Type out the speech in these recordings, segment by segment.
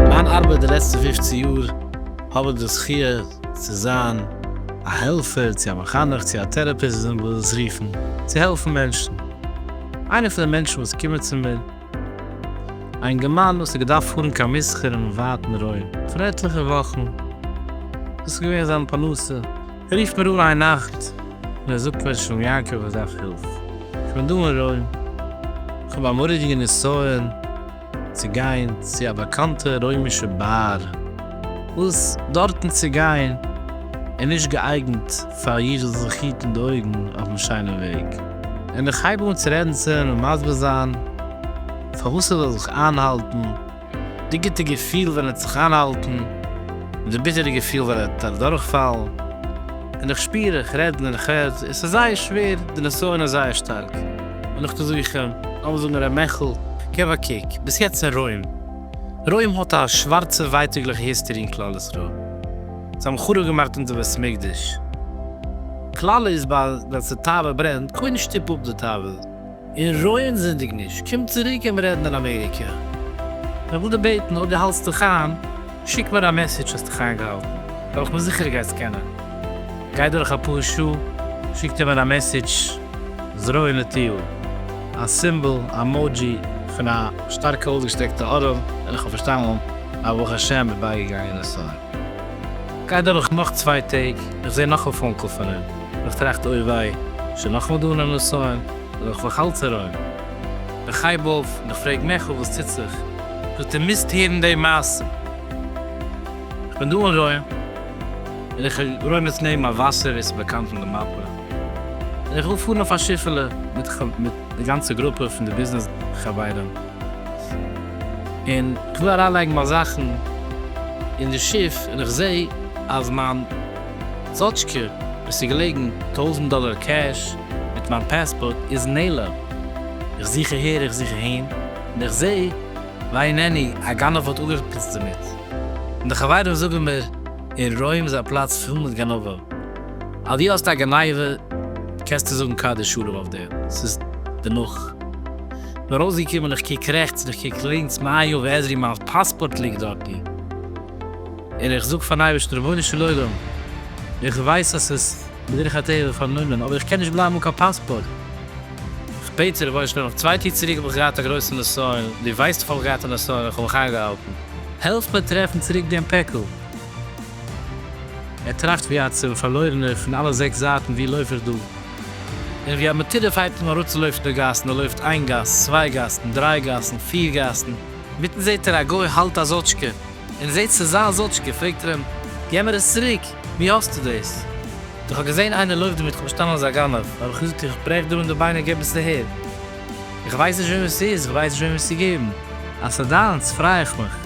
מיין ארבעט די לעצטע פופצן יאר האב איך די זכי' צו זיין א העלפער צו א מחנך צו א טערעפיסט ווי אזוי מ'וויל עס רופן, צו העלפן מענטשן. איינער פון די מענטשן וואס קומען צו מיר. א אינגערמאן וואס האט געדארפט פארן קיין מסחר אינעם ווייטן רוים פאר עטליכע וואכן, דאס איז געווען זיין פרנסה, רופט מיר אן איין נאכט און ער זאגט מיר, שלום יעקב איך דארף הילף, איך בין דא אין רוים, איך האב א מורא'דיגע נסיון צו גיין צו א באקאנטע רוימישע באר, וואס דארטן צו גיין איז נישט געאייגנט פאר איר זאלט זיך היטן די אויגן אויפן שיינעם וועג. און איך הייב אן צו רעדנצען און מסביר זיין פארוואס ער זאל זיך איינהאלטן, די גוטע געפיל ווען ער האט זיך איינהאלטן, און די ביטערע געפיל ווען ער האט אדורכפאלן, און איך שפיר, איך רעד און איך רעד, עס איז זייער שווער, די נסיון איז זייער שטארק, און איך טו זוכן. לאמיר זאגן ר' מעכל, געב א קוק, ביסט יעצט אין רוים, רוים האט א שווארצע ווייטאגליכע היסטערי אין כלל ישראל, זיי האבן חרוב געמאכט אונזער בית מקדש. כלל איז ביי ווען ס'תאווה ברענט קודם שטופ אפ די תאווה און רואין זינדיג נישט קום צוריק קען מען רעדן אין אמעריקע. איך וויל דיר בעטן אויב די האלסט דיך איין שיק מיר א מעסעדזש האסט דיך איינגעהאלטן וועל איך מיר זיכער גייסט קענען. גייט דורך אפאר שעה שיקט ער מיר א מעסעדזש זרועו נטויו א סימבאל א מאדזשי פון א שטארקע אויסגעשטרעקטע ארעם און איך האב פארשטאנען אז ברוך השם איז בייגעגאנגען און סארי. גייט דורך נאך צוויי טעג, איך זעה נאך א פאון קאל פון אים, איך טראכט אוי וויי, שוין נאכמאל דא אן נסיון, אבער איך לאך אלץ ארום, איך הייב אויף און איך פרעג מעכל וואס טוט זיך, זאגט ער מוזט הערן די מעשה, איך בין דא אין רוים און איך רוים עס נעבן א וואסער ווי עס איז באקאנט אין די מאפע, און איך וויל פארן אויף א שיפעלע מיט די גאנצע גרופע פון די ביזנעס חברים, און איך וויל אריינלייגן מיין זאכן אין די שיף און איך זעה אז מיין זאטשקע וואס איז געלעגן טויזנט דאלער קעש מיט מיין פעספארט איז נעלם, איך זוך אהער איך זוך אהין און איך זעה וויי נעני א גנב האט אפגעפיצט דערמיט, און די חברים זאגן מיר אין רוים איז א פלאץ פול מיט גנבים, אז דו האסט א גניבה קענסטו זאגן קדיש שלום אויף דעם, ס'איז דערנאך. נאר אויסגעקומען איך קוק רעכטס און איך קוק לינקס מה היה ועזרי מיין פאספארט ליגט דארטן און איך זאג פארן אייבערשטן רבונו של עולם איך ווייס אז ס'איז בדרך הטבע פארנומען אבער איך קען נישט בלייבן אן קיין פאספארט איך בעט צו רבונו של עולם אויף צוויי טאג צוריק האב איך געהאט א גרויסע נסיון דו ווייסט איך האב געהאט א נסיון איך האב מיך איינגעהאלטן העלף מיר טרעפן צוריק דעם פעקל. ער טראכט ווי א צו פארלוירענער פון אלע זעקס זייטן ווי לויף איך דא. און ווי א מטורף הייבט אים אראפצולויפן די גאסן, ער לויפט איין גאס, צוויי גאסן, דריי גאסן, פיר גאסן, מיטן זעהט ער א גוי האלט א זאטשקע, און ער זעהט ס'איז זיין זאטשקע, פרעגט ער אים, גיב מיר עס צוריק, ווי האסטו דאס? איך האב געזעהן איינער לויפט דערמיט, איך האב פארשטאנען אז א גנב, האב איך געזאגט, איך ברעך דיר אן די ביינער, גיב עס אהער, איך ווייס נישט וועמען ס'איז, איך ווייס נישט וועמען עס צו געבן, אז ס'איז דיינס פריי איך מיך,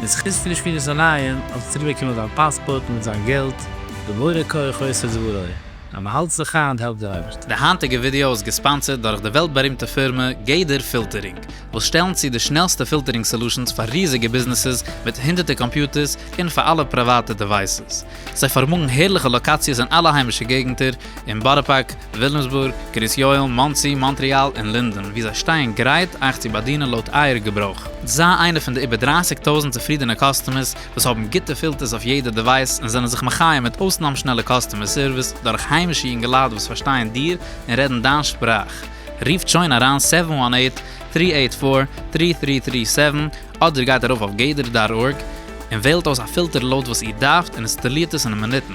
מיט זכות פון די שמירת עיניים האסטו צוריק באקומען דיין פאספארט מיט זיין געלט, ובורא כח עושה דברו. אז מען האלט זיך היינט העלפט דער אויבערשטער. די היינטיגע ווידעא איז געספאנסערד דורך די וועלט בארימטע פירמע גדר פילטערינג, וואס שטעלן צו די שנעלסטע פילטערינג סעלושענס פאר ריזיגע ביזנעסעס מיט הונדערטער קאמפיוטערס און פאר אלע פריוואטע דעווייסעס. זיי פארמאגן הערליכע לאקאציעס אין אלע היימישע געגנטער, אין בארא פארק, וויליאמסבורג, קרית יואל, מאנסי, מאנטריאל און לינדען, וואו זיי שטייען גרייט אייך צו באדינען לויט אייער געברויך. זיי איינע פון די איבער דרייסיג טויזנט צופרידענע קאסטומערס וואס האבן גוטע פילטערס אויף יעדע דעווייס און זענען זיך מחיה מיט אויסנאם שנעלע קאסטומער סערוויס דורך היימישע יונגעלייט וואס פארשטייען דיר און רעדן דיין שפראך. רופט שוין אריין סעווען וואן עיט, טרי עיט פאר, טרי טרי טרי סעווען אדער גייט ארויף אויף גדר דאט ארג און וועלט אויס א פילטער לויט וואס איר דארפט און אינסטאלירט עס אין מינוטן.